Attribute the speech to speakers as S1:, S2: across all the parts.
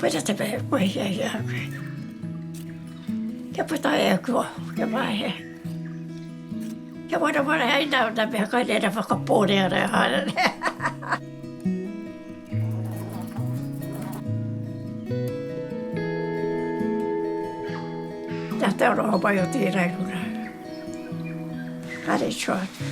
S1: Puta te pehe kua hiahia ake. Kia puta e aku aho, kia mahe. Kia warawara ai nā ōna mea kai reira whakapōrea rea haere rea. Nā te aroha mai o tēnei kura. Kāre i tū atu.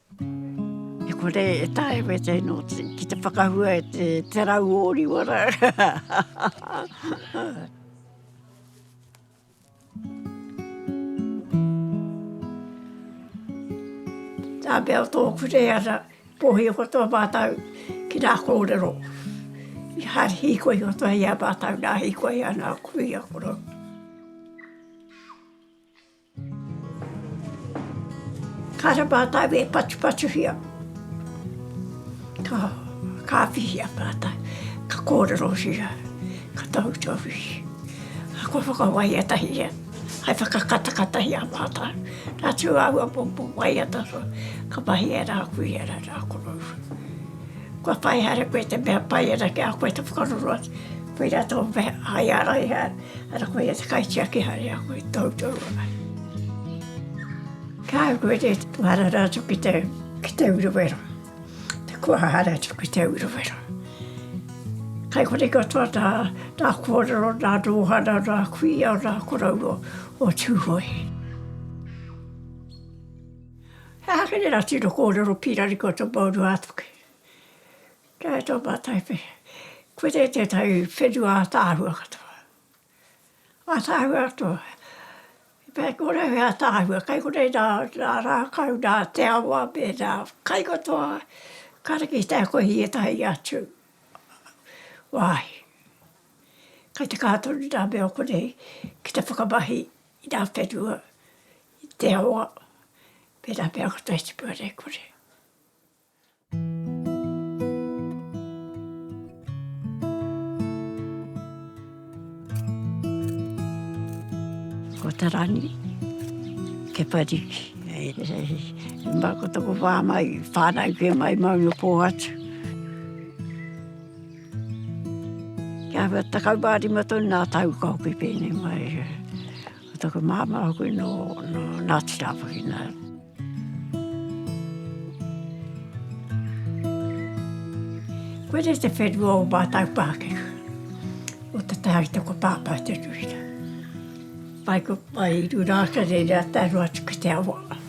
S1: E kore e taea koe te no ki te whakahua e te te rau oriwa ra. Ta bea to kure ara po hi ko to ba tau ki ra korero. I ha hi ko i o to i a ba tau na hi ko i a na kui a koro. Kāre mātou e patupatuhia, ka kāwhihia mātou, ka kōrerohia, ka tautohia, kua whakawaia tahi ia, hai whakakatakata i a mātou. Nā tū āua pōpō waiata roa, ka mahia rā koe ia rā rā koroua. Kua pai haere koe te mea pai ana ki a koe te whakaroro atu, koirā tō mea, hai ara ia. Ara koe te kaitiaki hare a koe toutoua ai. Ka au koe te tuharara atu ki te, ki te uruwera. Te kuahara atu ki te uruwera. Kai kore katoa tā, tā kōrero, tā rōhana, tā kuia, tā koroua o Tūhoe. He aha kere rā tino kōrero pīrari kua tapaurua atu ki, Kia ora tō mātou pe. Koe nei tētahi whenua ātaahua katoa. Ātaahua katoa. E pā ki ora he ātaahua, kai konei nā rākau, nā te awa me nā kai katoa, kāre ki te ako i ētahi atu wāhi. Kai te kaha tonu nā mea o konei ki te whakamahi i nā whenua, i te awa me nā mea katoa i tipu ana i konei. Ko ta rangi ke pariki. Hei hei. Mba ko toko wha mai. Whanau ke mai mau no po atu. Kia wha takau wha rima tonu na tau ka hoki pene mai. Ko taku māmā hoki nō Ngāti Rāwhawhina. Koe re te whenua o mātou Pākehā, o te taha i te ko Pāpā Te Ruhina. Pai ko pai i rura ake reira tae roa atu ki te awa.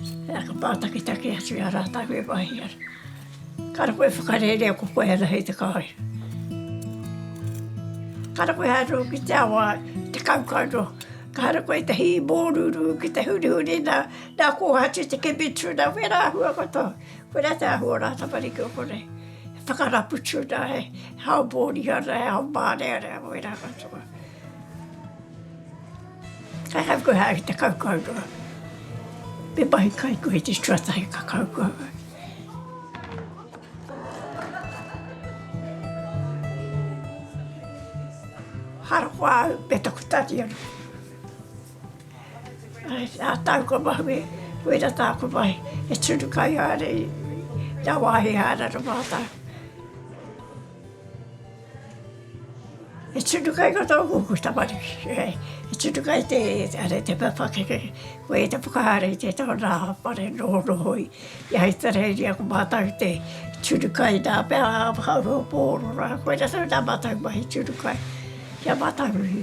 S1: He aha pā taketake atu i a rātau e wāhi ana. Kara koe whakarērea ko koe ana hei te kāri. Kara koe haere uru ki te awa, te kaukau noa. Kara koe te hī mōrūrū ki te hurihuri nā, nā kōhatu te kemi tuna, wē rā āhua katoa. Koe rā te āhua o rā tamariki o konei. He whakarapu tuna, he hao mōrihana, he hao mārearea, wē rā katoa. Kai hau koe haere te kaukau. Me mahi kai koe te tuatahi ka kaukau. Harakoa au me taku tari anu. A tau ka mahu e, wera tāku mahi, e tunu kai haere i, nā wāhi haere ana mātau. E tunu kai ko tō koukou tamariki, e, e tunu kai te, are, te papakeke, koe te whakahaere i te taonga a whare nohonohoi. I Ahitereiria ko mātau te tunu kai nā pea whakaurua pō oro rā, koira tonu tā mātau mahi tunu kai, kia mātau iwi.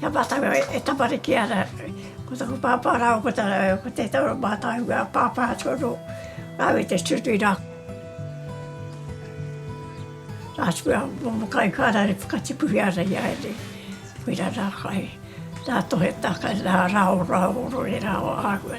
S1: Kia mātau e tamariki ana, ko taku pāpā rāua ko tāna, ko tētahi o mātāua pāpā atu anō, rāua i te tutu i nā nā tūā momo kai kāna e whakatipuhi ana i a rāua. Koirā nā kai, nā tohe takai, nā rāo rāo rō e rāo āhua.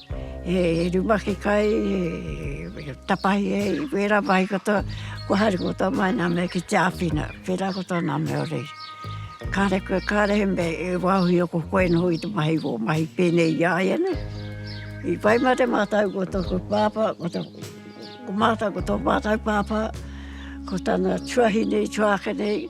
S1: He rumaki kai e tapahi ai wera mai katoa kua haere katoa mai na mea ki te apina pera katoa na mea orei. Kare koe kare he mea e waho i ako koe noho i te mahi wo mahi penei i aia nei. I pai mare matou ko toku papa ko toku ko matou ko to matou papa ko tana tuahine i tuakene.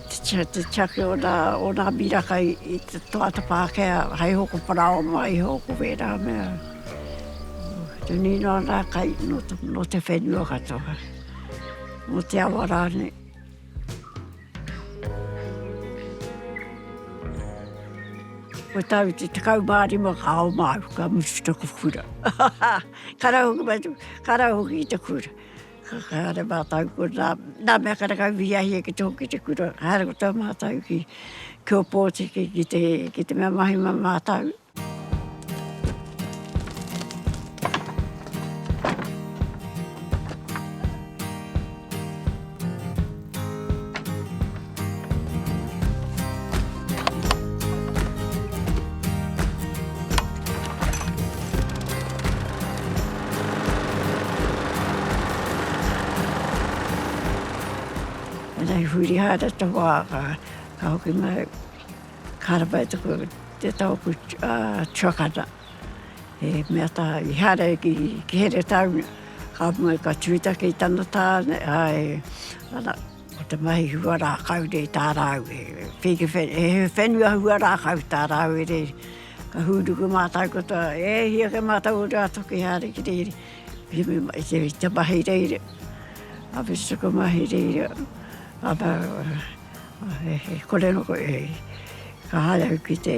S1: Te take o nā miraka i te tangata Pākehā hei hoko parāoa mai iho ko wērā mea te nīnau ana kai nō te whenua katoa, nō te awa rānei. Ko tāu i te 15 ka oma au ka mutu taku kura. Ka rahi hoki i te kura. Ka haere mātou ko nā, nā mea karekau i hiahia ki te hoki te kura, haere ko tō mātou ki, ki Ōpōtiki ki te, ki te mea mahi mā mātou. Anei huri haere te hoa ka ka hoki mai, ka rapa i te taku tuakana. he mea taha, i haere ki Heretaunga, ka mutu ka tū take i tana tāne, āe, ana, ko te mahi hua rākau nei tā rāu e, pēke whenua, he whenua hua rākau tā rāu e rēri. Ka hūnuku mātau katoa, e hia kē mātau o rā toki hea re ki rēri, i te mahi reira, a whiti tuku mahi reira, ana, he kore noa koe, ka haere au ki te.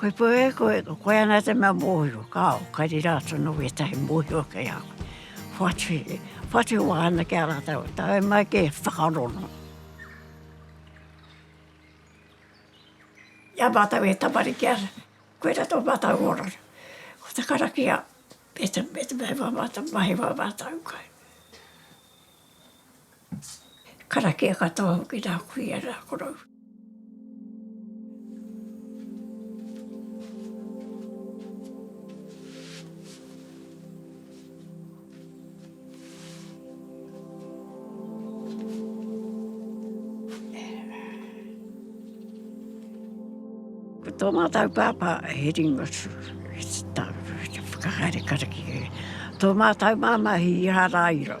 S1: Koe koe, koe, koe ana te mea mōhio, kāo, ka rira atu anō ētahi mōhio kei a koe. Whatu, whatu wā ana ki a rātou, tae mai ki whakarono. I a mātou e tamariki ana, koirā tō mātou oranga, ko te karakia me te, me te mea wā mātou, mahi wā mātou kai. Karakia katoa hoki rā kuia rā korou. Ko tō mātou pāpā he ringotū, he tau, he whakahaere karakia. Tō mātou māmā he īharairo.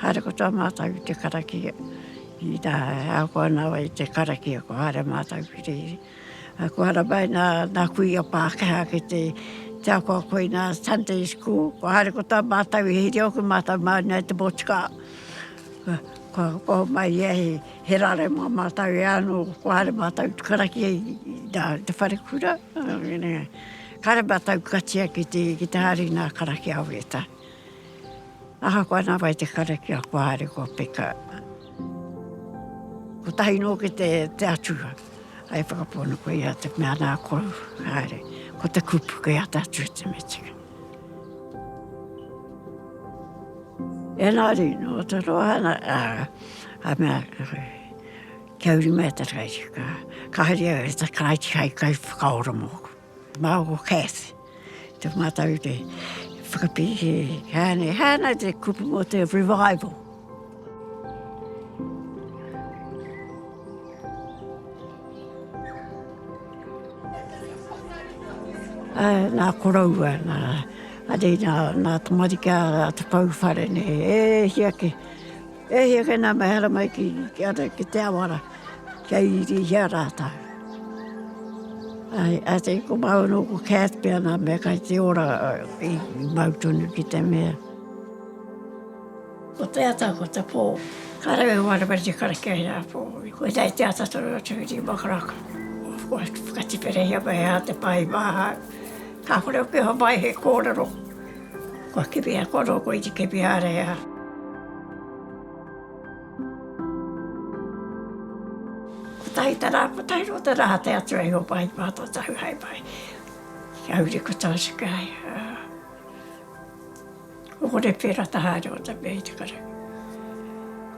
S1: Haere katoa mātou i te karakia, i tā, ahakoa nāwai i te karakia, kua haere mātou ki rēhē. Ā, kua haramai nā, nā kuia Pākehā ki te, te ako a koina Sunday school, kua haere katoa mātou i hiri au ki mātou māu nei te motukā. Kua hopoho mai ia he, he rare mō mātou e ānō, kua haere mātou ki te karakia i, i tā, i te wharekura. Kare matou katia ki te ki te hari na karakia o Reta. Ahakoa na wai te karakia kua haere kua peka. Kotahi no ki te te Atua. Ai whakapono ko ia te mea na ko haere. Ko te kupu ke a tatu te metika. Enari no te roa na a a mea kia uri me te kai. Ka haria te kai kai kai whakaora moku. Māu ko Cath, tō mātou te whakapiki hāne, hāna te kupu mō te revival. Uh, nā koroua, nā, ari nā, nā tamarika, nā te kauwhare, nē, e hia ke, E hia kei nā mehara mai ki ki te ao ara, kia irihia rātou. Ai, a te ko māu no ko Kath pia nā mea kai te ora i māu tonu ki te mea. Ko te ata, ko te pō, ka rau e wāna meri te karakia i a pō. Ko i tai te ata tonu atu i rima karaka. Ko whakatiperehia mai hā te pā i māhau. Kāore o piha mai he kōrero. Kua kiwi a koro koe te kiwi a rea. Kotahi ta ra, kotahi ro ta ra te atu a Ihova i matou tahu hai mai ki a uri ko Tosa ki a ia. Ohore pe ra ta haere o ta mea i te karakia.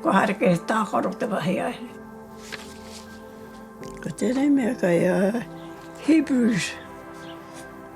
S1: Ko haere ke ta koro te wahi ai. Ko tenei mea kai a Hebrews.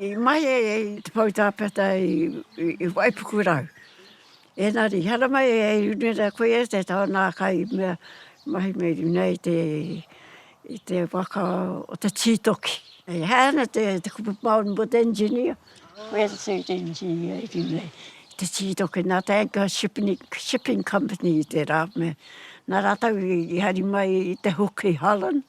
S1: I mahi ai te pou tāpeata i Waipukurau. Ēngari, haramai e Irunerea koia te tau nā ka i mea mahi me runei te, i te waka o te Tītoki. He ana te kupu maori mo te engineer, where is the engineer i runei i te Tītoki, nā te Anchor Shipping Company i tērā mea. Nā rātau i hari mai i te hook i Holland.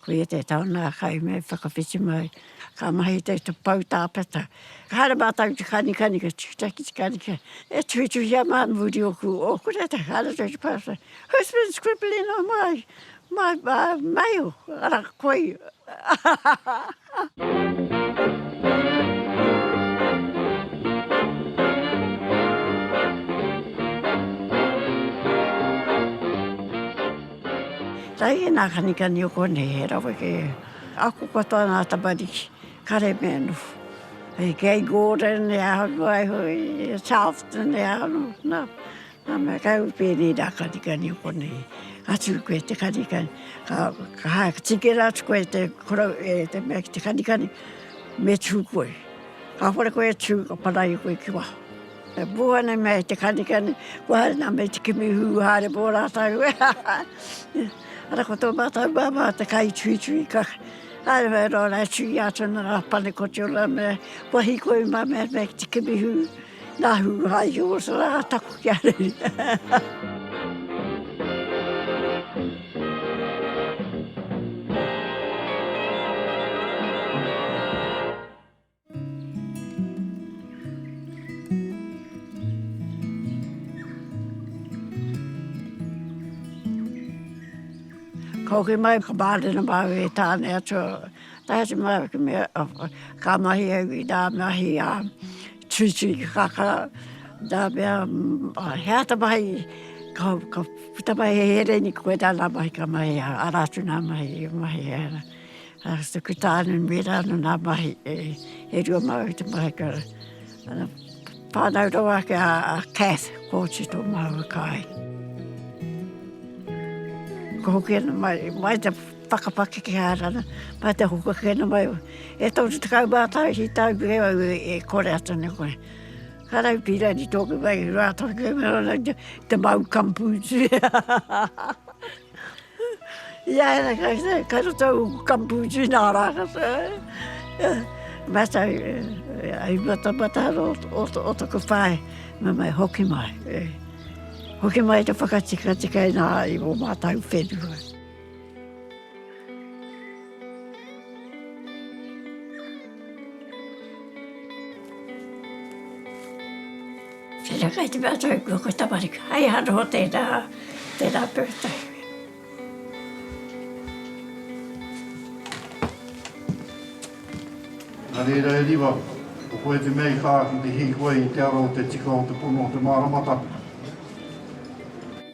S1: Ko ia te taonga kai me whakawhiti mai. Ka mahi te te pau tāpeta. Ka haere mātou te kanikani ka tikita ki te kanika. E tuhituhia mā muri o ku o ku reta. Ka haere te te pāsa. Who's been scribbling on my, my, uh, mail? Ara koi. Tae nā kanikani o konei he rawe kē. Ako katoa nā tamariki, kare me noho. Kei Gordon e aroha iho i Charleston e aroha. Nā mea kai u pēnei nā kanikani o konei atu koe te kanikani ka ka hae ka tikera atu koe te korou e te mea ki te kanikani me tū koe. Kāore koe e tū ka paraia koe ki waho. E pū ana mea e te kanikani kua haere nā mea i te kimi hū haere mō rātau ara ko tō mātau māmā te kaituitui ka haere wai rōra e tū i a tōna rā panekoti o nā mea kua hikoi mā mea mea ki te kimi hū. Nahu hai horse ra taku kia reri. Ka hoki mai ka barina mai e tane atua. Tae atu mai ki mea ka mahi au i da mahi a. Tui tui ki kakara, nā mea, he ata mahi, ka, ka puta mai he here ni koe nā nā mahi ka mahi, ara atu nā mahi, e mahi e ana. A tuku tāne me rā nō nā mahi, e rua māu te mahi ka. Whānau rawa ake a Cath, Kōti tō māua kāinga. Kua hoki ana mai, mai te. Whakapakeke haere ana, pai te hoko ake ana mai. E toru tekau mā tahi ki tāu ki kei au e kore atu ana koe. Ka rau pīra ni tōku wai, rā tonu kei mea rana ki te mau kampu. Ia era kai te kai te tau kampu ki nā rā kata. Mā tau, ai mata mata ro o, o toku whai, mā mai hoki mai. Hoki mai te whakatika tika i nā i mō mātau whenua. Tēnā kai te mea tau kua koe tamariki. Hei anō tēnā, tēnā pūtai.
S2: Nā reira e Riva, ko koe te mea i kā ki te hīkoi i te ara o te tika o te pono o te māramataka.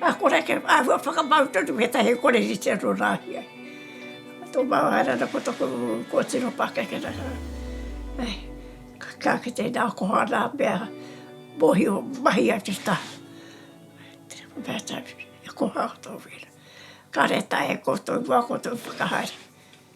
S1: Ka kore ke āhua whakamau tonu ētahi koreritia nō Rāhia. Tō māwaira ana ko taku kōtiro pākeke rā. Ai, ka kite nā koha nā mea mōhio mahi ai te tā. Mea tāu, e koha au tō wēra. Kāre tae e koutou wā koutou whakahaere.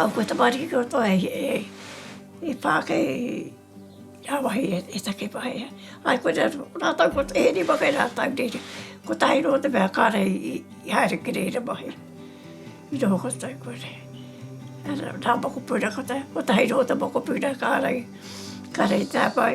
S1: Au ko tamariki kua toa e pa kei a wahi e take pa ia. Ai ko ria ratou ko e rima kei ratou nei ri. Ko tahi no te mea kare i haere ki reira mahi. I noho ko tatou ko re. Ara ra mokopuna ko tahi no te mokopuna kare kare tapai.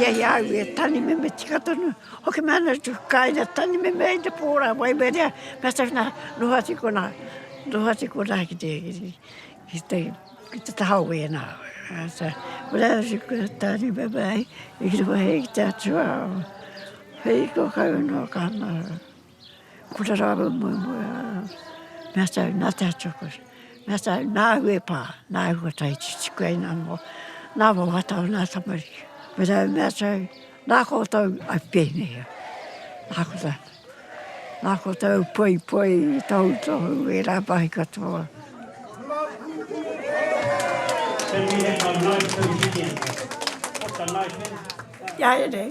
S1: Hei a au e tani meme tika tonu, hoki mai ana tu kai na tani meme ai te pora wai berea, na sa na no ha tiko na, no ha tiko na ki te, ki te, ki te taha o wena. Sa, wera si ko tani meme ai, i ki te wahi ki te atua, hei ko kai no ka na. Kura rāua mua mua me ata au nā te hatuakoras me ata au nā au e pā nā au kua tae ki te tipu ai nā mua nā mua wā tau nā tamariki me rau me ata au nā koutou a pēnēhea nā koutou nā koutou poipoi tohutohu e rā pāhi katoa. Ia e rei.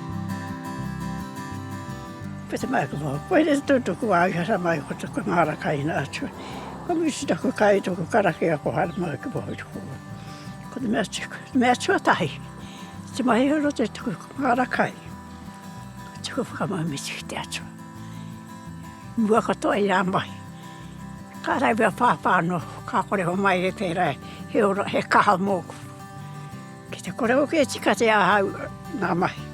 S1: Ko te mahi ko koe re to to ko ai hara mai ko te mara kai na atu. Ko mi si ta ko kai to ko kara ke ko hara mai ko bo ko. Ko te mea tiko, te mea tua tahi. Te mahi horo te tiko ko mara kai. Tiko whakamau me tiki te atu. Mua katoa i a mahi. Ka rai mea pāpā no, ka kore ho mai e te rai. He ora, he kaha mōku. Ki te kore hoki e tika te ahau ngā mahi,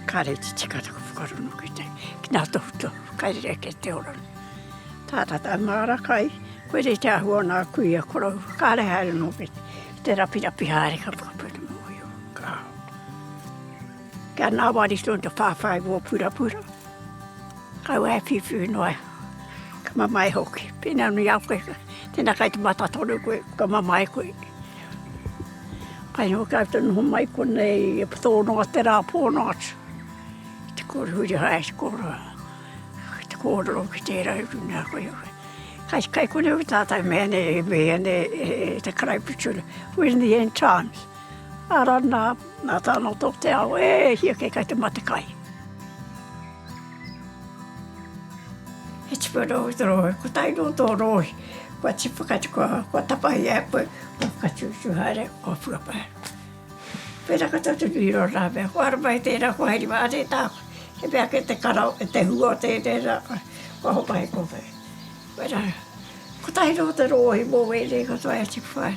S1: kāre te tika taku whakarongo ki te, ki ngā tohutohu kai rerekē te ora nei. Tātā tāu māra kai, koe nei te āhua o nā kuia koroua, kāre haere noa ki te rapirapi haere ka whakapau te mōhio. Ka. Kia ngāwari tonu te whāwhai o ō purapura. Kaua e whiwhi noa, ka mamae hoki. Pēnā nui a koe, tēnā kai te mata tonu koe, ka mamae koe. Kai hō kāu te noho mai konei e tō noa te rā pōno atu. Te kōru huri hae, te kōru a, te kōrero ki tērā i runga a koe. Kai, kai konei o tātau mea nei, mea nei e te karaipitur, when the end times. Ara na, na tano to te ao, e hia ke kai te matekai. He tipu no to rohe, ko tai no to rohe, kua tipu ka tipu, kua tapa i a koe, kua ka tipu tu haere, kua pua pa. Pera ka tatu i ro ra ve, kua ra mai te ra, kua heri ma re ta, he pia ke te karo, e te hua te te ra, kua hopa he kope. Pera, ko tai no to rohe, mo we re ka toa e tipu ai.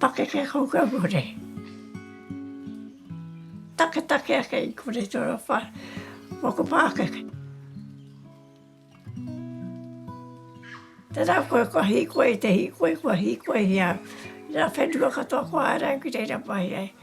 S1: Pakeke koukou kore. Taketake ake i kore toro wha, moku pakeke. Tera koe kua hikoi te hikoi kua hikoi hia. Ra whenua katoa kua arai ki reira pai ai.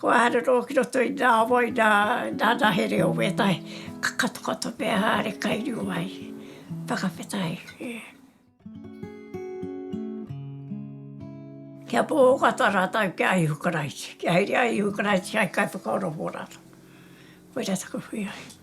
S1: Kua arero ki roto i nā wai, i nā, nā nā here o wētahi ka katokato pea haere kai rio ai. Whakawhata ai, e. Kia pōkata rātou ki a Ihu Karaiti, kia haere a Ihu Karaiti hai kaiwhakaora mō rātou. Koira taku whiwhi.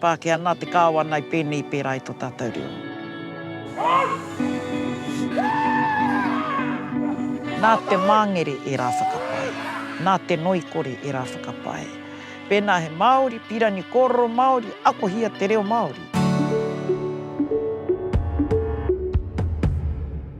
S3: Pākehā nā te Kāwana i pēnei i pērā i tō tātou reo. Nā te māngere e rā whakapae, nā te noikore e rā whakapae. Pēnā he Māori, Pirani kōrero Māori, akohia te reo Māori.